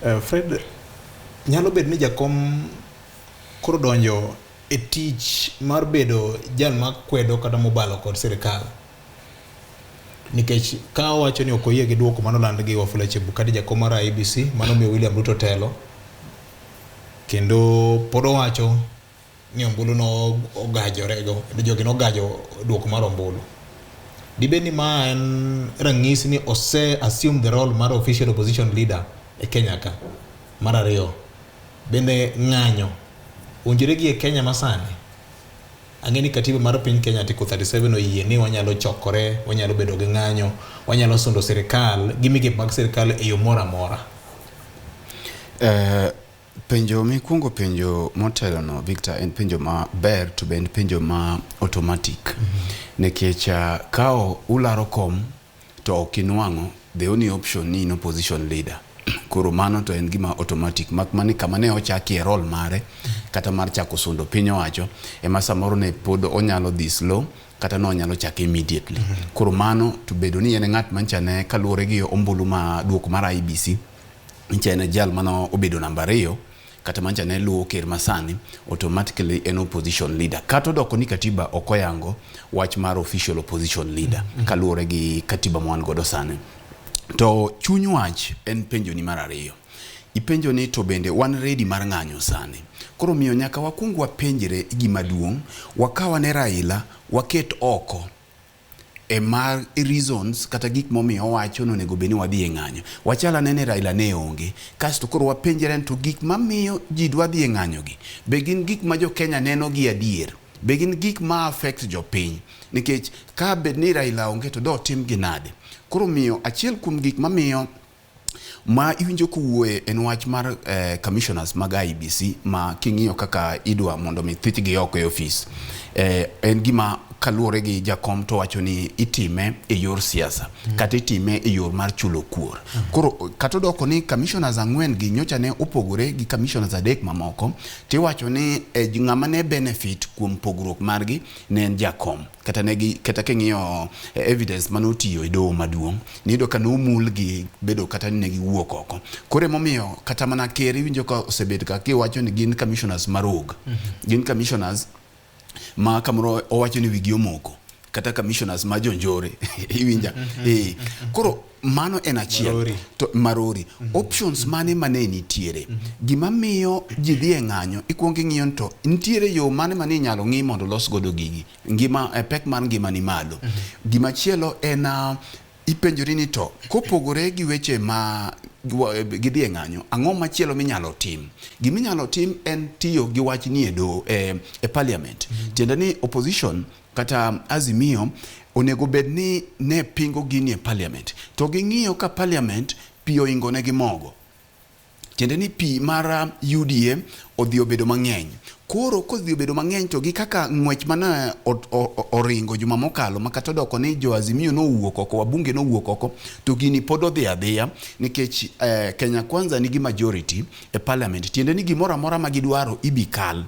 Eh, Fred, nyalo bedo ni jakom koro donjo e tich mar bedo jal ma kwedo kata mobalo kod sirikal nikech ka owacho ni ok oyie gi duoko mano land gi Wafula Chebukati jakom mar IBC mano miyo William Ruto telo kendo pod owacho ni ombulu nogajorego, jogi nogajo duoko mar ombulu. Dibed ni ma en ranyisi ni ose assume the role mar official opposition leader e Kenya ka? Mar ariyo, bende ng'anyo owinjore gi e Kenya masani? Ang'e ni katiba mar piny Kenya Article 37 oyie ni wanyalo chokore, wanyalo bedo gi ng'anyo, wanyalo sundo sirikal gi migepe mag sirikal e yo moro amora. Eh, Penjo mikwongo penjo motelono Victor en penjo maber to be en penjo ma automatic mm -hmm. nikech uh, ka ularo kom to ok inwang'o the only option ni in opposition leader koro mano to en gima automatic mak mani kama ne ochakie role mare kata mar chako sundo piny owacho ema samoro ne pod onyalo dhi slow kata no onyalo chake immediately mm -hmm. koro mano to bedo ni en ng'at manchane kaluwore gi ombulu ma duoko mar IBC nyicha en jal mane obedo namba ariyo kata mancha ne luwo ker masani automatically en opposition leader kata odoko ni katiba ok oyango wach mar official opposition leader mm -hmm. kaluwore gi katiba ma wan godo sani to chuny wach en penjo ni mar ariyo ipenjo ni to bende wan ready mar ng'anyo sani koro miyo nyaka wakwong wapenjre gima duong' wakawa ne Raila waket oko e mar reasons kata gik momiyo owacho ni onego bed ni wadhi e ng'anyo. Wachal ane ni Raila ne onge. Kasto koro wapenjre ni to gik mamiyo ji dwa dhi e ng'anyogi, be gin gik ma jo Kenya neno gi adier? Be gin gik ma affect jopiny? Nikech ka bed ni Raila onge to dotimgi nade? Koro omiyo achiel kuom gik mamiyo Ma iwinjo kowuoye en wach mar eh, commissioners mag IBC ma king'iyo kaka idwa mondo mi thichgi oko e ofis eh, en gima kaluwore gi jakom to wacho ni itime e yor siasa mm. kata itime e yor mar chulo kuor mm. koro kata odoko ni commissioners ang'wen gi nyocha ne opogore gi commissioners adek mamoko tiwacho ni eh, ng'ama ne benefit kuom pogruok margi ne en jakom kata ne gi kata king'iyo eh, evidence mane otiyo e doho maduong' niyudo ka nomul gi bedo kata ni ne giwuok oko koro emomiyo kata mana ker iwinjo ka osebed ka kiwacho ni gin commissioners marog gin commissioners ma kamoro owacho ni wigi omoko kata commissioners ma jonjore iwinja eh koro mano en achiel marori. to marori mm -hmm. options mane mane nitiere mm -hmm. gima miyo ji dhi e ng'anyo ikuongo ing'iyo to nitiere yo mane mane inyalo ng'i mondo los godo gigi ngima e pek mar ngima ni malo mm -hmm. gima chielo en uh, ipenjori ni to kopogore gi weche ma gidhi e ng'anyo ang'o machielo minyalo tim gima inyalo tim en tiyo gi wach ni e, e parliament mm -hmm. tiende ni opposition kata Azimio onego bed ni ne pingo gini e parliament to ging'iyo ka parliament pi oingo ne gi mogo tiende ni pi mar UDA odhi obedo mang'eny. Koro kodhi obedo mang'eny to gi kaka ng'wech mana oringo juma mokalo ma kata odoko ni jo Azimio nowuok oko, wabunge nowuok oko to gini pod odhi adhiya nikech eh, Kenya Kwanza nigi majority e parliament. Tiende ni gimoro amora ma gidwaro ibi kal.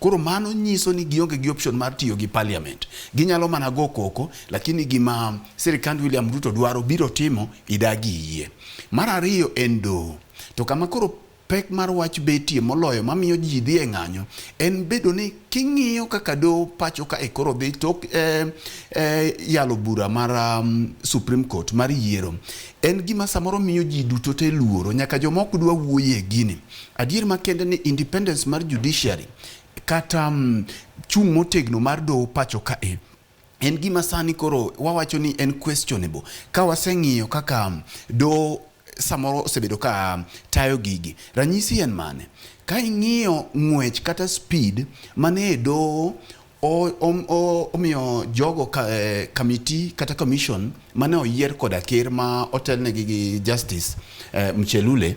Koro mano nyiso ni gionge gi option mar tiyo gi parliament. Ginyalo mana go koko, lakini gima sirikand William Ruto dwaro biro timo idagi iyie. Mar ariyo en doho. To kama koro pek mar wach betie moloyo mamiyo ji dhi e ng'anyo en bedo ni king'iyo kaka doho pacho ka e koro dhi tok e, e, yalo bura mar um, Supreme Court mar yiero en gima samoro miyo ji duto te luoro nyaka jomok dwa wuoye gini Adier makende ni independence mar judiciary kata mm, chung' motegno mar doho pacho ka e en gima sani koro wawacho ni en questionable ka waseng'iyo kaka mm, doho samoro osebedo ka mm, tayo gigi. Ranyisi en mane? Ka ing'iyo ng'wech kata speed mane e doho omiyo jogo ka, eh, kamiti kata commission mane oyier koda ker ma otelnegi gi Justice eh, Mchelule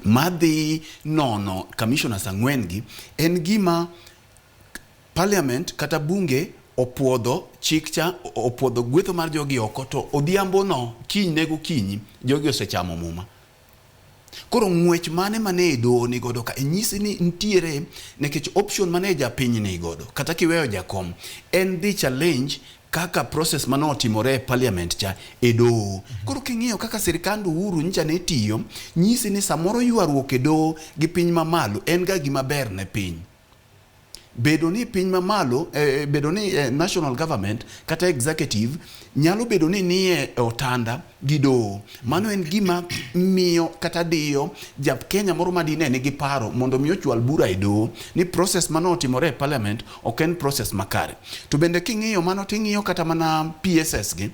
madhi nono commissioners ang'wen gi en gima parliament kata bunge opuodho chik cha opuodho gwetho mar jogi oko to odhiambo no kiny ne gokinyi jogi osechamo muma koro ng'wech mane mane doho ni godo ka inyisi ni ntiere nikech option mane japiny ni godo kata kiweyo jakom en dhi challenge kaka process mane otimore e parliament cha e doho. Koro king'iyo kaka sirkand Uhuru nyicha ne tiyo, nyisi ni samoro ywaruok e doho gi piny mamalo en ga gima ber ne piny. Bedo ni piny mamalo, eh, eh bedo ni eh, national government kata executive nyalo bedo ni nie otanda gi doho. Mano en gima miyo kata diyo ja Kenya moro ma dine nigi paro mondo mi ochwal bura e doho ni process mano otimore e parliament ok en process makare. To bende king'iyo mano ting'iyo kata mana PSS gi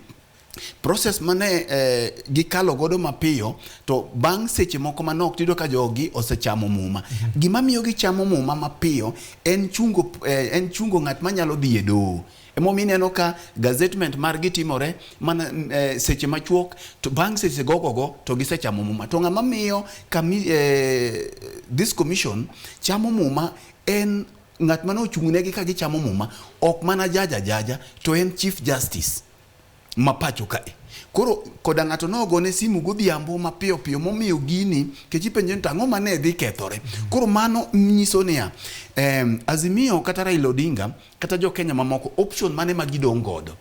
process mane eh, gikalo godo mapiyo to bang' seche moko manok tiyudo ka jogi osechamo muma. Gima miyo gichamo muma mapiyo en chungo eh, en chungo ng'at manyalo dhi e doho. Emomiyo ineno ka gazetment margi timore mana e, seche machuok to bang' seche gogogo to gisechamo muma. To ng'ama miyo kami, e, this commission chamo muma en ng'at mane ochung'negi ka gichamo muma, ok mana jaja jaja to en Chief Justice. ma pacho kae. Koro koda ng'ato nogone simu godhiambo mapiyo piyo momiyo gini kech ipenje ni to ang'o mane dhi kethore. Koro mano nyiso niya, em, Azimio kata Raila Odinga kata jo Kenya mamoko option mane ma gidong' godo.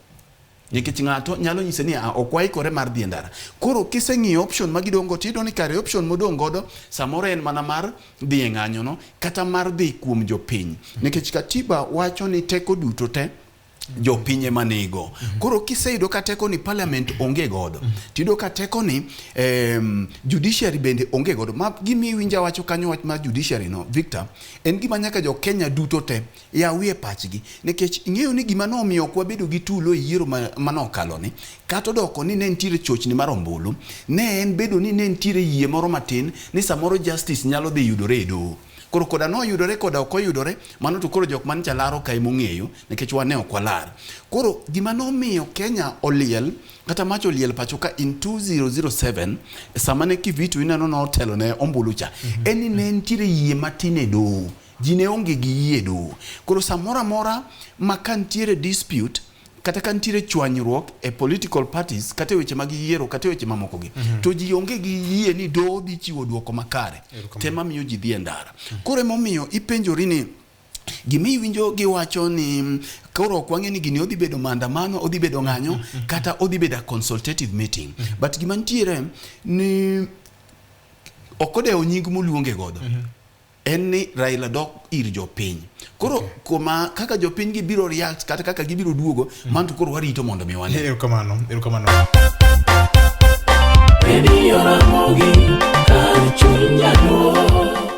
Nikech ng'ato nyalo nyise ni "Ah, ok waikore mar dhi e ndara. Koro kiseng'iyo option ma gidong' go tiyudo ni kare option modong' godo samoro en mana mar dhi e ng'anyono kata mar dhi kuom jopiny. Nikech Katiba wacho ni teko duto te jopiny ema nego. Mhm. Koro kiseyudo ka teko ni parliament onge godo, mhm. tiyudo ka teko ni um, judiciary bende onge godo. Ma gimi iwinja wacho kanyo wach ma judiciary no, Victor, en gima nyaka jo Kenya duto te yawie pachgi, nikech ing'eyo ni gima nomiyo ok wabedo gi tulo e yiero manokalo ni kata odoko ni ne nitiere chochni mar ombulu, ne en bedo ni ne nitiere yie moro matin ni samoro justice nyalo dhi yudore e doho. Koro koda noyudore koda ok oyudore, mano to koro jok man cha laro kae mong'eyo nikech wan ne ok walar. Koro gima nomiyo Kenya oliel kata mach oliel pacho ka in 2007 e sama ne Kivitu ineno notelo ne ombulu cha mm -hmm. en ni ne nitiere yie matin e doho ji ne onge gi yie doho koro samoro amora ma ka nitiere dispute kata ka nitiere chwanyruok e political parties kata e weche mag yiero kata e weche mamoko gi mm -hmm. to ji onge gi yie ni doho dhi chiwo dwoko makare tema miyo ji dhi e ndara mm -hmm. koro emomiyo ipenjori ni gima iwinjo giwacho ni mm, koro ok wang'e ni gini odhi bedo maandamano odhi bedo ng'anyo mm -hmm. kata odhi bedo consultative meeting mm -hmm. but gima nitiere ni ok odewo nying moluonge godo mm -hmm. en ni Raila dok ir jopiny. Koro okay. kuma kaka jopiny gibiro react kata kaka gibiro duogo mm. man to koro warito mondo mi wane. Erokamano, erokamano. Radio Ramogi, kar chunya